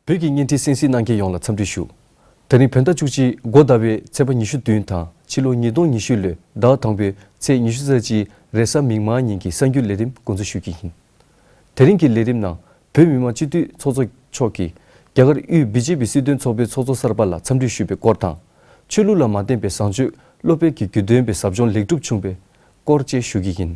བོད་ཀྱི་བརྙན་འཕྲིན་གསན་གཟིགས་གནང་མཁན་ཡོངས་ལ་འཚམས་འདྲི་ཞུ། ད་རིང་བོད་ཟླ་བཅུ་གཅིག་མགོ་ཟླ་བའི་ཚེས་པ་ཉི་ཤུ་བདུན་དང་ཕྱི་ལོ་ཉིས་སྟོང་ཉི་ཤུ་ལོའི་ཟླ་བ་དང་པོའི་ཚེས་ཉི་ཤུ་རྩ་གཅིག་རེས་གཟའ་མིག་དམར་ཉིན་གྱི་གསར་འགྱུར་ལས་རིམ་འགོ་འཛུགས་ཞུ་རྒྱུ་ཡིན། དེ་རིང་གི་ལས་རིམ་ནང་བོད་མི་མང་སྤྱི་འཐུས་ཚོགས་གཙོ་མཆོག་གིས་རྒྱ་གར་དབུས་བྷི་ཇེ་བྷི་སྲིད་དོན་ཚོགས་པའི་ཚོགས་གཙོ་གསར་པ་ལ་འཚམས་འདྲི་ཞུས་པའི་སྐོར་དང། ཆོས་ལུགས་ལ་མ་བརྟེན་པའི་བཟང་སྤྱོད་བློ་འཕེལ་གྱི་རྒྱུ་དོན་པའི་ཟབ་སྦྱོང་ལེགས་གྲུབ་བྱུང་བའི་སྐོར་བཅས་ཞུ་རྒྱུ་ཡིན།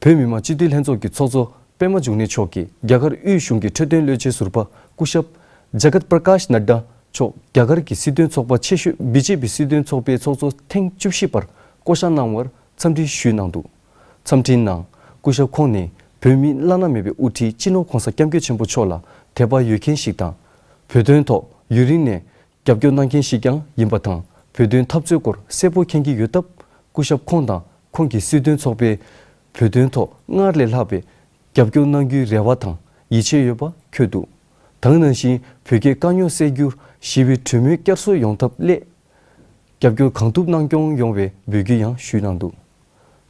བོད་མི་མང་སྤྱི་འཐུས་ལྷན་ཚོགས་ཀྱི་ཚོགས་གཙོ་པད་མ་འབྱུང་གནས་མཆོག་གིས་རྒྱ་གར་དབུས་གཞུང་གི་འཕྲོད་བསྟེན་བློས་འབྱེད་ཟུར་པ་སྐུ་ཞབས། Jagat Prakash Nadda། མཆོག་རྒྱ་གར་གྱི་སྲིད་དོན་ཚོགས་པ་ཆེ་ཤོས BJP སྲིད་དོན་ཚོགས་པའི་ཚོགས་གཙོ་ཐེངས་བཅུ་བཞི་པར་བསྐོ་གཞག་གནང་བར་འཚམས་འདྲི་ཞུས་གནང་འདུག་འཚམས་འཕྲིན་ནང་སྐུ་ཞབས་ཁོང་ནི་བོད་མི་བླ་ན་མེད་པའི་དབུ་ཁྲིད་སྤྱི་ནོར་གོང་ས་སྐྱབས་མགོན་ཆེན་པོ་མཆོག་ལ་དད་པ་ཡོད་མཁན་ཞིག་དང། བོད་དོན་ཐོག་ཡུན་རིང་ནས་རྒྱབ་སྐྱོར་གནང་མཁན་ཞིག་ཀྱང་ཡིན་པ་དང་བོད་དོན་འཐབ་རྩོད་སྐོར་གསལ་པོ་མཁྱེན་གྱི་ཡོད་སྟབས་སྐུ་ཞབས་ཁོང་དང་ཁོང་གི་སྲིད་དོན་ཚོགས་པས་བོད་དོན་ཐོག་སྔར་ལས་ལྷག་པའི་རྒྱབ་སྐྱོར་གནང་རྒྱུའི་རེ་བ་དང་ཡིད་ཆེས་ཡོད་པ་འཁྱོལ་འདུག་དང་ནང་བཞིན་བོད་རྒྱའི་དཀའ་རྙོག་སེལ་རྒྱུར་ཞི་བའི་གྲོས་མོལ་བསྐྱར་གསོ་ཡོང་ཐབས་སླད་རྒྱབ་སྐྱོར་གང་ཐུབ་གནང་སྐྱོང་ཡོང་བའི་འབོད་སྐུལ་ཡང་ཞུས་གནང་འདུག།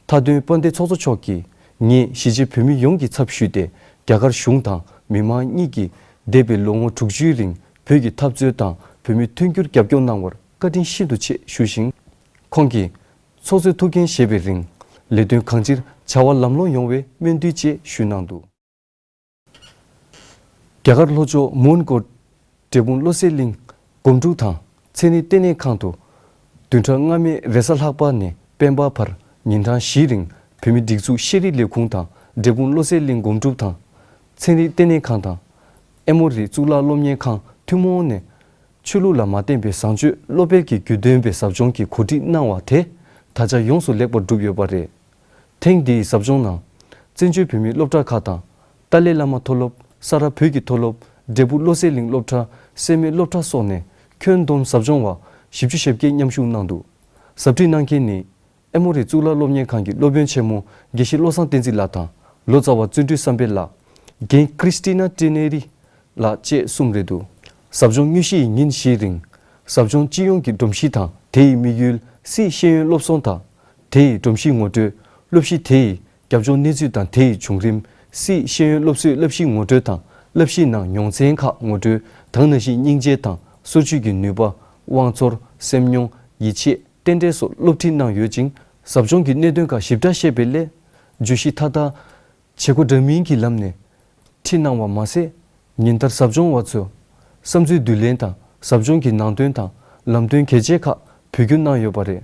མཐའ་དོན་དཔོན་སྡེ་ཚོགས་གཙོ་མཆོག་གིས་ངེད་གཞིས་བྱེས་བོད་མི་ཡོངས་ཀྱི་ཚབ་ཞུས་ཏེ་རྒྱ་གར་གཞུང་དང་མི་མང་གཉིས་ཀྱིས་འདས་པའི་ལོ་ངོ་དྲུག་ཅུའི་རིང་བོད་ཀྱི་འཐབ་རྩོད་དང་བོད་མི་མཐུན་འགྱུར་རྒྱབ་སྐྱོར་གནང་བར་བཀའ་དྲིན་ཤིན་ཏུ་ཆེ་ཞུས་ཤིང། ཁོང་གིས། ཚོགས་གཙོས་ཐུགས་འགན་བཞེས་པའི་རིང། ལས་དོན་གང་ཅིར་བྱ་བ་ལམ་ལྷོང་ཡོང་བའི་སྨོན་འདུན་བཅས་ཞུས་གནང་འདུག། རྒྱ་གར་ལྷོ་ཕྱོགས་མོན་གྷོ་འབྲས་སྤུངས་བློ་གསལ་གླིང་སྒོམ་དྲུག་དང་ཚེ་ནི་ལྟེ་གནས་ཁང་དུ། བདུན་ཕྲག་སྔ་མའི་རེས་གཟའ་ལྷག་པ་ནས་དཔལ་འབར་བར་ཉིན་གྲངས་བཞིའི་རིང་བོད་མི་སྒྲིག་འཛུགས་ཤེས་རིག་ལས་ཁུངས་དང་འབྲས་སྤུངས་བློ་གསལ་གླིང་སྒོམ་དྲུག་དང། ཚན་རིག་ལྟེ་གནས་ཁང་དང། ཨེ་མོ་རི་གཙུག་ལག་སློབ་གཉེར་ཁང་ཐུན་མོང་ནས། ཆོས་ལུགས་ལ་མ་བརྟེན་པའི་བཟང་སྤྱོད་བློ་འཕེལ་གྱི་རྒྱུད་འདོན་པའི་ཟབ་སྦྱོང་གི་གོ་སྒྲིག་གནང་བ་དེ་ད་ཆ་ཡོངས་སུ་ལེགས་པར་གྲུབ་ཡོད་པ་རེད། ཐེངས་འདིའི་ཟབ་སྦྱོང་ནང། བཙན་བྱོལ་བོད་མིའི་སློབ་གྲྭ་ཁག་དང། ཏཱ་ལའི་བླ་མ་མཐོ་སློབ། ས་རཱ་བོད་ཀྱི་མཐོ་སློབ། འབྲས་བུ་བློ་གསལ་གླིང་སློབ་གྲྭ། སེར་མོའི་སློབ་གྲྭ་སོགས་ནས་ཁྱོན་བསྡོམས་ཟབ་སྦྱོང་བ། བཞི་བཅུ་ཞེ་བརྒྱད་མཉམ་ཞུགས་གནང་འདུག་ཟབ་ཁྲིད་གནང་མཁན་ནི། ཨེ་མོ་རི་གཙུག་ལག་སློབ་གཉེར་ཁང་གི་སློབ་དཔོན་ཆེན་མོ་དགེ་བཤེས་བློ་བཟང་བསྟན་འཛིན་ལགས་དང། ལོ་ཙཱ་བ་བརྩོན་འགྲུས་བསམ་འཕེལ་ལགས། རྒན Christina Trineri། ལགས་བཅས་གསུམ་རེད་འདུག་ཟབ་སྦྱོང་དངོས་གཞི་ཡི་ཉིན་བཞིའི་རིང། ཟབ་སྦྱོང་སྤྱི་ཡོངས་ཀྱི་སྒྲོམ་གཞི་དང་དེ་ཡི་དམིགས་ཡུལ། སྲིད་ཤེས་ཡོན་སློབ་གསོ་དང། དེ་ཡི་སྒྲོམ་གཞི་ངོ་སྤྲོད་སློབ་གཞི་དེ་ཡི་རྒྱབ་ལྗོངས་གནས་ཚུལ་དང་དེ་ཡི་བྱུང་རིམ། སཱིའི་ཤེས་ཡོན་སློབ་གསོའི་བསླབ་གཞིའི་ངོ་སྤྲོད་དང་བསླབ་གཞིའི་ནང་མྱོང་ཚན་ཁག་ངོ་སྤྲོད་དང་ན་གཞིའི་སྙིང་རྗེ་དང་སོར་ཆུད་ཀྱི་ནུས་པ། དབང་ཚོར། སེམས་མྱོང། ཡིད་ཆེས། རྟེན་འབྲེལ་སོགས་སློབ་ཁྲིད་གནང་ཡོད་ཅིང། ཟབ་སྦྱོང་གི་གནད་དོན་ཁག་ཞིབ་ཕྲ་བཤད་པའི་སླད། བརྗོད་གཞི་མཐའ་དག་བྱེད་སྒོ་འདྲ་མིན་གྱི་ལམ་ནས་ཁྲིད་གནང་བ་མ་ཟད། ཉིན་ལྟར་ཟབ་སྦྱོང་བ་ཚོས་བསམ་ཚུལ་བསྡུ་ལེན་དང་ཟབ་སྦྱོང་གི་ནང་དོན་དང་ལམ་སྟོན་གལ་ཆེ་ཁག་ཕུལ་བསྒྱུར་གནང་ཡོད་པ་རེད།